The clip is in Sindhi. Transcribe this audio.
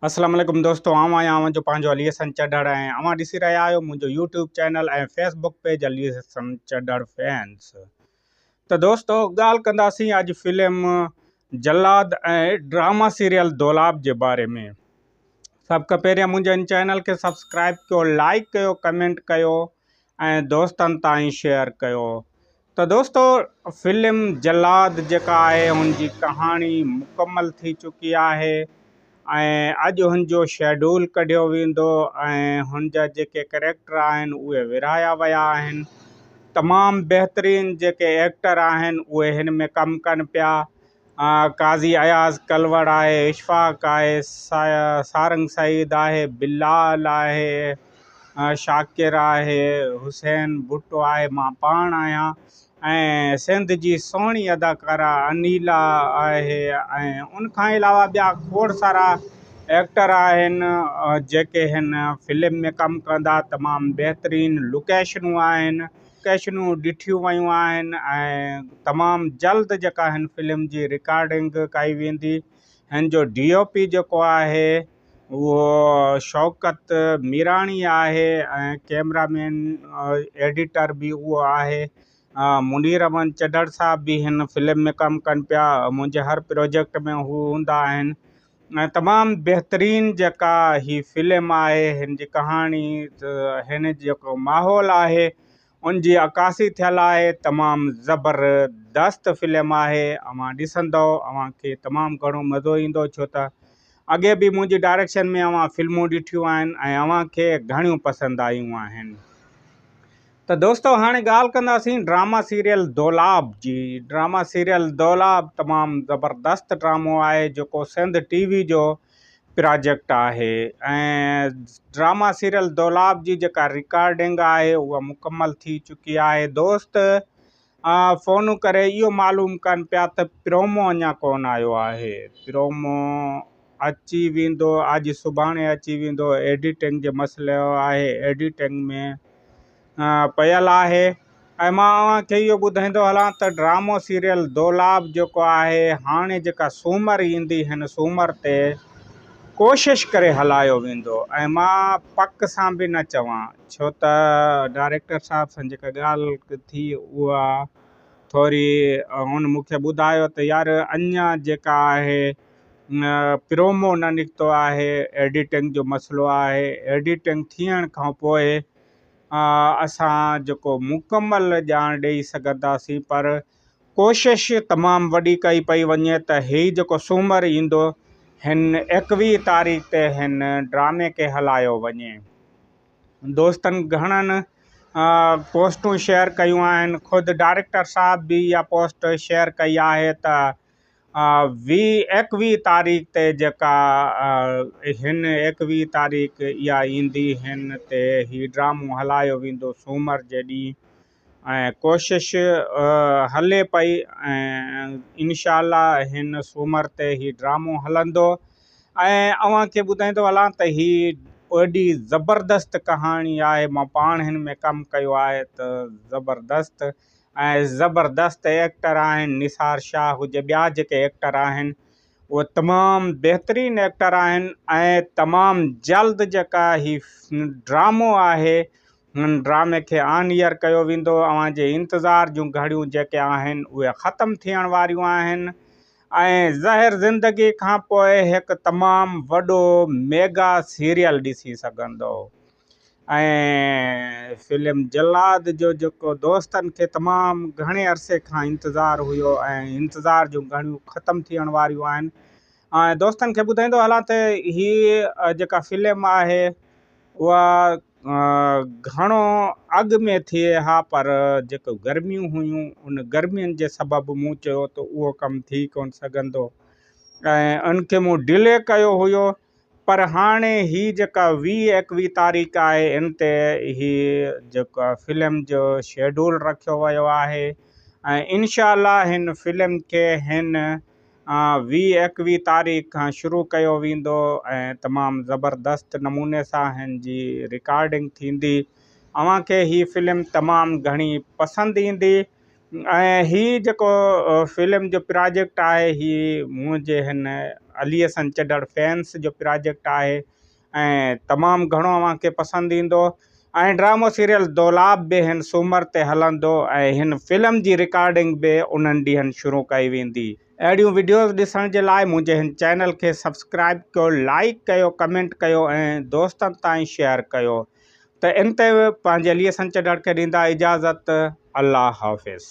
اسلام عليڪم دوستو آئون آهيان اوهان جو پنهنجو علي حسن چڍڙ ۽ اوهان ڏسي رهيا آهيو منهنجو YouTube channel ۽ Facebook page Ali Hasan Chadhar fans ته دوستو ڳالهه ڪنداسين اڄ film Jallad ۽ drama serial Dolab جي باري ۾ سڀ کان پهريان منهنجي ان چينل کي سبسڪرائب ڪيو لائڪ ڪيو ڪمينٽ ڪيو ۽ دوستن تائين شيئر ڪيو ته دوستو فلم جلاد جيڪا آهي ان جي ڪهاڻي مڪمل ٿي چڪي آهي ۽ اڄ ان جو شيڊول ڪڍيو ويندو ۽ هن جا جيڪي ڪريڪٽر آهن اهي ورهايا ويا آهن تمام بهترين جيڪي ايڪٽر آهن اهي هن ۾ ڪم ڪن پيا قاضي اياز ڪلوڙ آهي، اشفاق آهي، سارنگ سعيد آهي، بلال آهي، شاڪر آهي، حسين ڀٽو آهي، مان پاڻ آهيان ۽ سنڌ جي سهڻي اداڪارا انيلا آهي ۽ ان کان علاوه ٻيا کوڙ سارا ايڪٽر آهن جيڪي هن فلم ۾ ڪم ڪندا تمام بهترين لوڪيشنون آهن لوڪيشنون ڏٺيون ويون آهن ۽ تمام جلد جيڪا هن فلم جي رڪارڊنگ ڪئي ويندي. هن جو ڊي او پي جيڪو آهي اهو شوڪت ميراڻي آهي ۽ ڪيمرا مين ايڊيٽر به اهو آهي. منير امن چڍڙ صاحب به هن فلم ۾ ڪم ڪن پيا. منهنجي هر پروجيڪٽ ۾ هو هوندا آهن. ۽ تمام بهترين جيڪا هي فلم آهي هن جي ڪهاڻي هن جيڪو ماحول آهي ان جي عڪاسي ٿيل آهي تمام زبردست فلم آهي اوهان ڏسندو اوهان کي تمام گهڻو مزو ايندو ڇو ته اڳي به منهنجي ڊائريڪشن ۾ اوهان فلمون ڏٺيون آهن ۽ اوهان کي گهڻيون پسند آيون آهن ته دوستو هاڻي ڳالهه ڪنداسين ڊراما سيريل دولاب جي ڊراما سيريل دولاب تمام زبردست ڊرامو آهي جيڪو سنڌ ٽي وي جو پراجيڪٽ آهي ۽ ڊراما سيريل دولاب جي جيڪا رڪارڊنگ آهي اها مڪمل ٿي چڪي آهي دوست فون ڪري اهو معلوم ڪن پيا ته پرومو اڃا ڪونه آيو آهي. پرومو اچي ويندو اڄ سڀاڻي اچي ويندو ايڊيٽنگ جو مسئلو آهي ايڊيٽنگ ۾ پيل آهي ۽ مان اوهان کي اهو ٻڌائيندو هلان ته ڊرامو سيريل دولاب جيڪو آهي هاڻي جيڪا سومر ايندي هن سومر تي ڪوشش ڪري هلايو ويندو ۽ مان پڪ سان به نه چوان ڇو ته ڊائريڪٽر صاحب سان جيڪا ڳالهه ٿي اها ٿوري هن مون کي ٻڌايو ته يار اڃا جيڪا آهي پرومو نه نڪتو آهي ايڊيٽنگ جو مسئلو آهي ايڊيٽنگ ٿيڻ کان پوء اسان جيڪو مڪمل ڄاڻ ڏئي سگهنداسين پر ڪوشش تمام وڏي ڪئي پئي وڃي ته هي جيڪو سومر ايندو هن ايڪويهه تاريخ تي هن ڊرامي کي هلايو وڃي. دوستن گهڻن پوسٽون شيئر ڪيون آهن خود ڊائريڪٽر صاحب به اها پوسٽ شيئر ڪئي آهي ته ويهه ايڪويهه تاريخ تي جيڪا هن ايڪويهه تاريخ اها ايندي هن تي هي ڊرامو هلايو ويندو سومر جي ڏينهن ۽ ڪوشش هلي پئي ۽ انشاء الله هن سومر تي هي ڊرامو هلندو ۽ اوهان کي ٻڌائيندو هلان ته هي ايڏي زبردست ڪهاڻي آهي مان پاڻ هن ۾ ڪم ڪيو آهي ته زبردست ۽ زبردست ايڪٽر آهن نثار شاهه هجي ٻيا جيڪي ايڪٽر آهن اهي تمام بهترين ايڪٽر آهن ۽ تمام جلد جيڪا هي ڊرامو آهي هن ڊرامي کي آن ايئر ڪيو ويندو. اوهان جي انتظار جون گهڙيون جيڪي آهن اهي ختم ٿيڻ واريون آهن ۽ زهر زندگي کان پوء هڪ تمام وڏو ميگا سيريل ڏسي سگهندو ۽ فلم جلاد جو جيڪو دوستن کي تمام گهڻي عرصي کان انتظار هيو ۽ انتظار جون گهڙيون ختم ٿيڻ واريون آهن ۽ دوستن کي ٻڌائيندو هلان ته هي جيڪا فلم آهي اها گهڻو اڳ ۾ ٿئي ها پر جيڪو گرميون هيون ان گرمين جي سبب مون چيو ته اهو ڪم ٿي ڪونه سگهندو ۽ ان کي مون ڊلي ڪيو هيو پر هاڻي هي جيڪا ويهه ايڪويهه تاريخ آهي ان تي هي جيڪا فلم جو شيڊول رکيو ويو آهي ۽ انشاء الله هن فلم کي هن وي ايڪوي تاريخ کان شروع ڪيو ويندو ۽ تمام زبردست نموني سان هن جي رڪارڊنگ ٿيندي اوهان کي هي فلم تمام گهڻي پسند ايندي ۽ هي جيڪو فلم جو پراجيڪٽ آهي هي منهنجي هن علي حسن چڏڙ فينس جو پراجيڪٽ آهي ۽ تمام گهڻو اوهان کي پسند ايندو ۽ ڊرامو سيريل دولاب به هن سومر تي هلندو ۽ هن فلم جي رڪارڊنگ به انهن ڏينهن شروع ڪئي ويندي. اهڙيون وڊيوز ڏسڻ جي لاء منهنجي هن چينل کي سبسڪرائب ڪيو لائيڪ ڪيو ڪمينٽ ڪيو ۽ دوستن تائين شيئر ڪيو ته ان تي پنهنجي ليئي سنچ ڊڙ کي ڏيندا اجازت الله حافظ.